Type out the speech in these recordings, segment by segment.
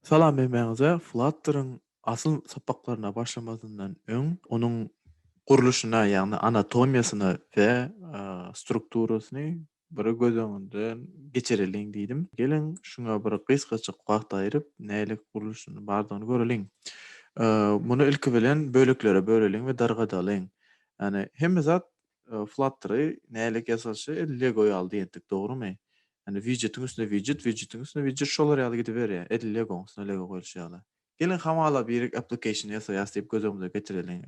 Salam Mehmäňize Flutter-yň asyl sapaklaryna başlamazyndan öň onuň gurluşyna ýagny anatomiýasyna we strukturasyny bir göz öňünden geçireliň diýdim. Geliň şuňa bir gysgajyk wagt aýryp nälik gurluşyny bardygyny göreliň. Muny ilki bilen böleklere böleliň we dargadalyň. Ýagny hemme zat Flutter-y nälik ýasalyşy edil Lego ýaly diýendik, dogrumy? Ýagny widjetiň üstüne widjet, widjetiň üstüne widjet şolar ýaly gidiberýär, edil Legoň üstüne Lego goýluşy ýaly. Geliň hamala birik application ýasaýas diýip göz öňümize getireliň.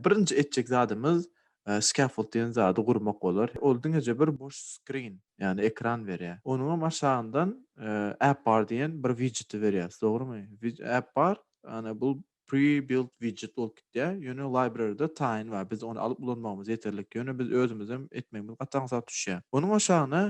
Birinji etjek zadymyz scaffold diýen zady gurmak bolar. Ol diňeje bir boş screen, ýagny ekran berýär. Onuňam aşagyndan AppBar diýen bir widjeti berýäs, dogrumy? AppBar, ýagny bu Pre-built widget bolup gitýär. Ýöne library-da taýyn bar. Biz ony alyp ulanmagymyz ýeterlik. Ýöne biz özümizem etmegimiz gaty aňsat düşýär. Onuň aşagyna,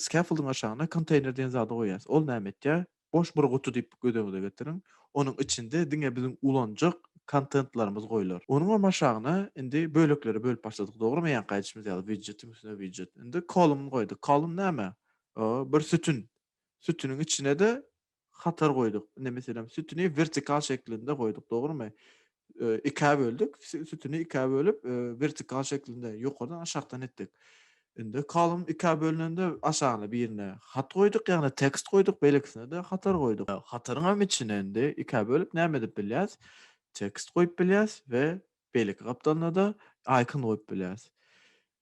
scaffold-yň aşagyna konteýner diýen zady goýýas. Ol näme etýär? Boş bir guty diýip göz öňüňize getiriň. Onuň içinde diňe biziň ulanjak kontentlerimiz goýlar. Onuňam aşagyna indi böleklere bölüp başladyk, dogrumy? Ýaňky aýdyşymyz ýaly, widjetiň üstüne widjet. Indi column goýduk. Column näme? Bir sütün. Sütüniň içine-de hatar goýduk. Indi meselem sütüni vertikal şeklinde goýduk, dogrumy? Ikä böldük, sütüni ikä bölüp, vertikal şeklinde ýokardan aşakdan etdik. Indi kolumn ikä bölünende aşagyna birine hat goýduk, ýagny tekst goýduk, beýlekisine-de hatar goýduk. Hataryň hem içine indi ikä bölüp näme edip bilýäs? Tekst goýup bilýäs we beýleki gapdalynada icon goýup bilýäs.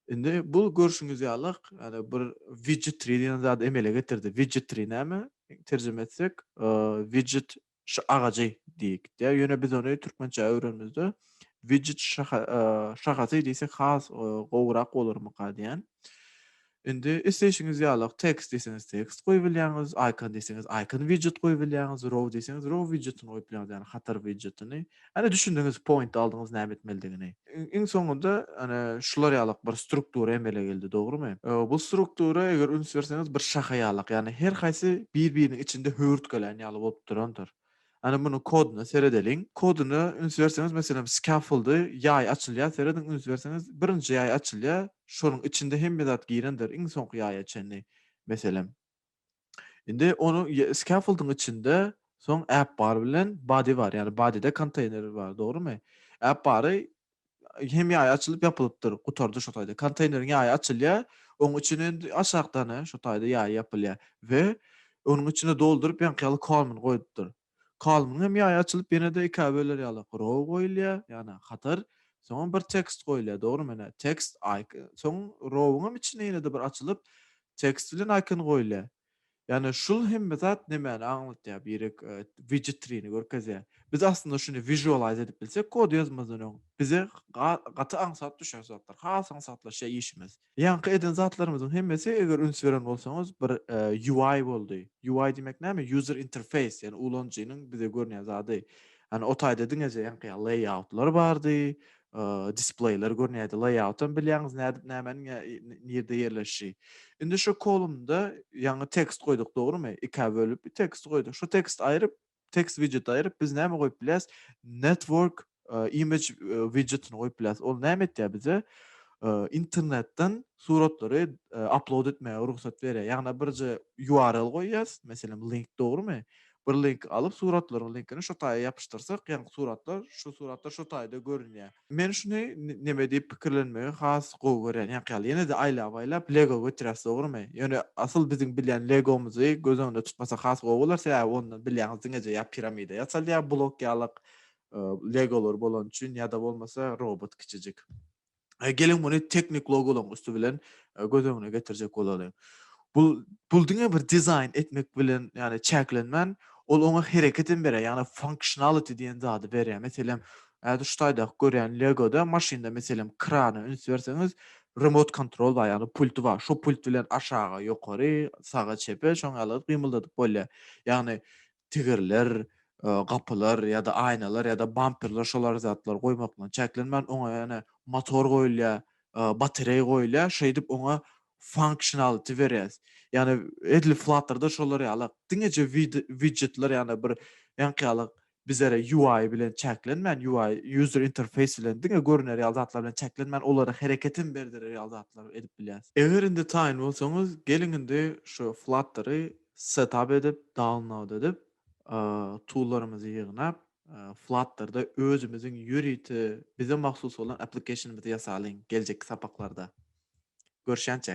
Indi bu görşüňiz ýalyk, ýani bir widget tree diýen zady emele getirdi. Widget tree näme? Terjime etsek, widget şa agajy diýip gitýär. Ýöne biz ony türkmençä öwrenimizde widget şaha şahasy diýsek has gowurak bolarmyka diýen. Indi isleýşiňiz ýalyk tekst diýseňiz tekst goýup bilýäňiz, icon diýseňiz icon widget goýup bilýäňiz, row diýseňiz row widgetini goýup bilýäňiz, ýani hatar widgetini. Hany düşündiňiz point aldyňyz näme etmelidigini. Iň soňunda hany şular ýalak bir struktura emele geldi dogrymy? Bu struktura eger üns berseňiz bir şaha ýalak ýagny her haýsy bir biriniň içinde höwürtgelän ýaly bolup durandyr. Hany munuň koduna seredeliň. Koduna üns berseňiz meselem scaffoldy ýaý açylýar serediň üns berseňiz birinji ýaý açylýar şonuň içinde hemme zat girendir iň soňky ýaýa çenli meselem. Indi onuň scaffolding içinde soň app bar bilen body bar. Ýagny bodyda konteýner bar, dogrumy? App bary hem ýaýy açylyp ýapylypdyr, gutardy şo taýda. Konteýneriň ýaýy açylýar, onuň içine indi aşakdana şo taýda ýaýy ýapylýar we onuň içine dolduryp ýaňky ýaly kormyny goýupdyr. Kalbyň hem ýaýy açylyp ýene-de ikä böler ýaly row goýulýar, ýagny hatar, soňam bir tekst goýulýar, dogrymy, ine, tekst, icon, soň row-yň hem içinde ýene-de bir açylyp, tekst bilen icon goýulýar. Ýagny şul hemme zat nämäni aňlatýar, birek widgetrini görkezýär. Biz aslynda şuny visualize edip bilsek kod ýazmazdan öň, bize gaty aňsat düşer zatlar, has aňsatlaşýar işimiz. Ýaňky eden zatlarymyzyň hemmesi eger üns beren bolsaňyz bir UI boldy. UI diýmek näme? User interface, ýagny ulanyjynyň bize görünýän zady. Ýagny o taýda diňeje ýaňky ýaly layoutlar bardy, displeýler görünýärdi. Layout hem bilýäňiz nädip nämäniň nirde ýerleşişi. Indi şu kolumnda ýaňy tekst goýduk dogrymy? Ikä bölüp tekst goýduk. Şu tekst aýryp text widgeti aýryp biz näme goýup bilýäs? Network image widgetini goýup bilýäs. Ol näme etýär bize? Internetden suratlary upload etmäge rugsat berýär. Ýagny birje URL goýýas, meselem link dogrymy? Bir link alyp suratlaryň linkini şo taýa ýapyşdyrsak, ýagny suratlar, şu suratlar şo taýda görünýär. Men şuny neme diýip pikirlenmegi has gowy görýän ýaňky ýaly. Ýene-de aýlap-aýlap Lego götüräs dogrymy? Ýöne asyl biziň bilýän Legomyzy göz öňünde tutmasak has gowy bolar, sebäbi onda bilýäňiz diňeje ýa piramida ýasalýar blok ýalyk Legolar bolany üçin ýa-da bolmasa robot kiçijik. Geliň muny teknik logolaryň üsti bilen göz öňüne getirjek bolalyň. Bu bul diňe bir dizaýn etmek bilen ýagny çäklenmän, ol oňa hereket hem berýär, ýagny functionality diýen zady berýär. Meselem, häzir şu taýdaky görýän Lego-da maşynda meselem krana üns berseňiz, remote control bar, ýagny pulty bar. Şo pult bilen aşaga, ýokary, saga, çepe şoň ýaly gyt gymyldadyp bolýar. Ýagny tigirler, gapylar ýa-da aýnalar ýa-da bamperler şolar zatlar goýmak bilen çäklenmän, oňa ýene motor goýulýar, batereý goýulýar, şeýdip oňa funksionality berýäs. Ýagny edil Flutter-da şolar ýaly diňeje widjetler ýagny bir ýaňky ýaly bizlere UI bilen çäklenmän, UI, user interface, bilen diňe görüner ýaly zatlar bilen çäklenmän, olara hereket hem berdirer ýaly zatlar edip bilýäs. Eger indi taýyn bolsaňyz, geliň indi şu Flutter-y Setap edip, download edip, toollarymyzy ýygnap, Flutter-da özümiziň ýörite bize mahsus bolan application-ymyzy ýasalyň geljekki sapaklarda. Görşýänçä!